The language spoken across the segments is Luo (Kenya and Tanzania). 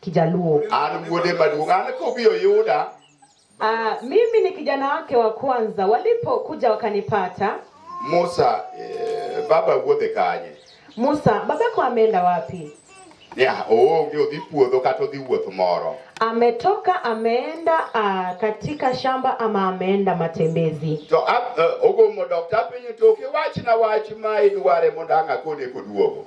Kijaluo. An wuode maduong', an kobiro yuda. Ah, mimi ni kijana wake wa kwanza, walipokuja wakanipata. Musa, eh, baba wuodhe kanye? Musa, babako ameenda wapi? Yeah, oonge odhi puodho kata odhi wuoth moro. Ametoka ameenda uh, katika shamba ama ameenda matembezi. To uh, ogomo dokta piny toke wach na wach ma idware mondo ang' akone koduogo.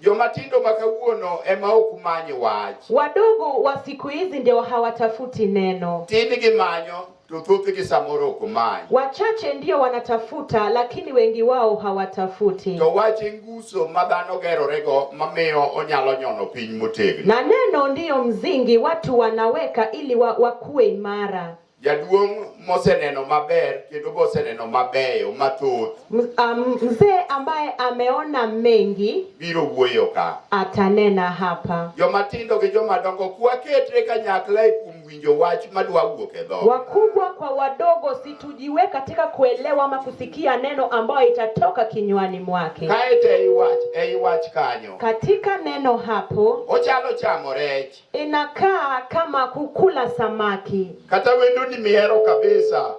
Jomatindo ma kawuono ema ok many wach. Wadogo wa siku hizi ndio hawatafuti neno. Tini gimanyo to thothgi samoro ok many. Wachache ndio wanatafuta lakini wengi wao hawatafuti. To wach nguso ma dhano gerorego mamiyo onyalo nyono piny motegno. Na neno ndiyo mzingi watu wanaweka ili wa, wakuwe imara. Jaduong' moseneno maber kendo boseneno mabeyo mathoth. Um, mzee ambaye ameona mengi biro wuoyo ka. Atanena hapa. Joma tindo gi joma dongo kuwaketre kanyakla e kuom winjo wach madwa wuok e dhoga. Wakubwa kwa wadogo situjiwe katika kuelewa ama kusikia neno ambayo itatoka kinywani mwake. Kae te iwach, e iwach kanyo. Katika neno hapo. Ochalo chamo rech. inakaa kama kukula samaki. Kata wendo ni mihero kabisa.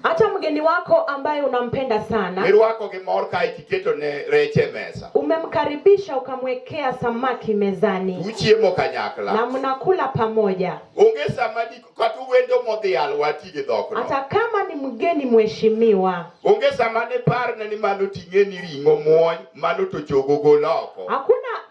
Hata mgeni wako ambaye unampenda sana. Mirwako gi mor ka itiketo ne reche mesa. Umemkaribisha ukamwekea samaki mezani. Uchiemo kanyakla. Na mnakula pamoja. Onge sama ni kata wendo modhi alwa tije dhokno. Hata kama ni mgeni mheshimiwa. Onge sama ne parne ni mano ting'e ni ring'o muony mano to chogo goloko. Hakuna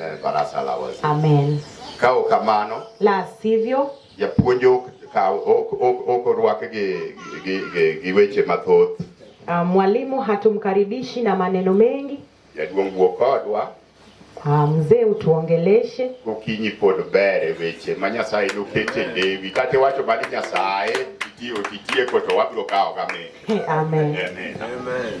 eh, barasa la wazee. Amen. Kao kamano la sivyo japuonj ok kaw ok ok ok orwake gi gi gi, gi weche mathoth. Uh, mwalimu hatumkaribishi na maneno mengi. Jaduong' wuo kodwa. Uh, mzee utuongeleshe. Okinyi pod bere weche ma Nyasaye nokete lewi kata wacho mani Nyasaye itiyo itieko to wabiro kawo kame. Amen. Amen. Amen. Amen.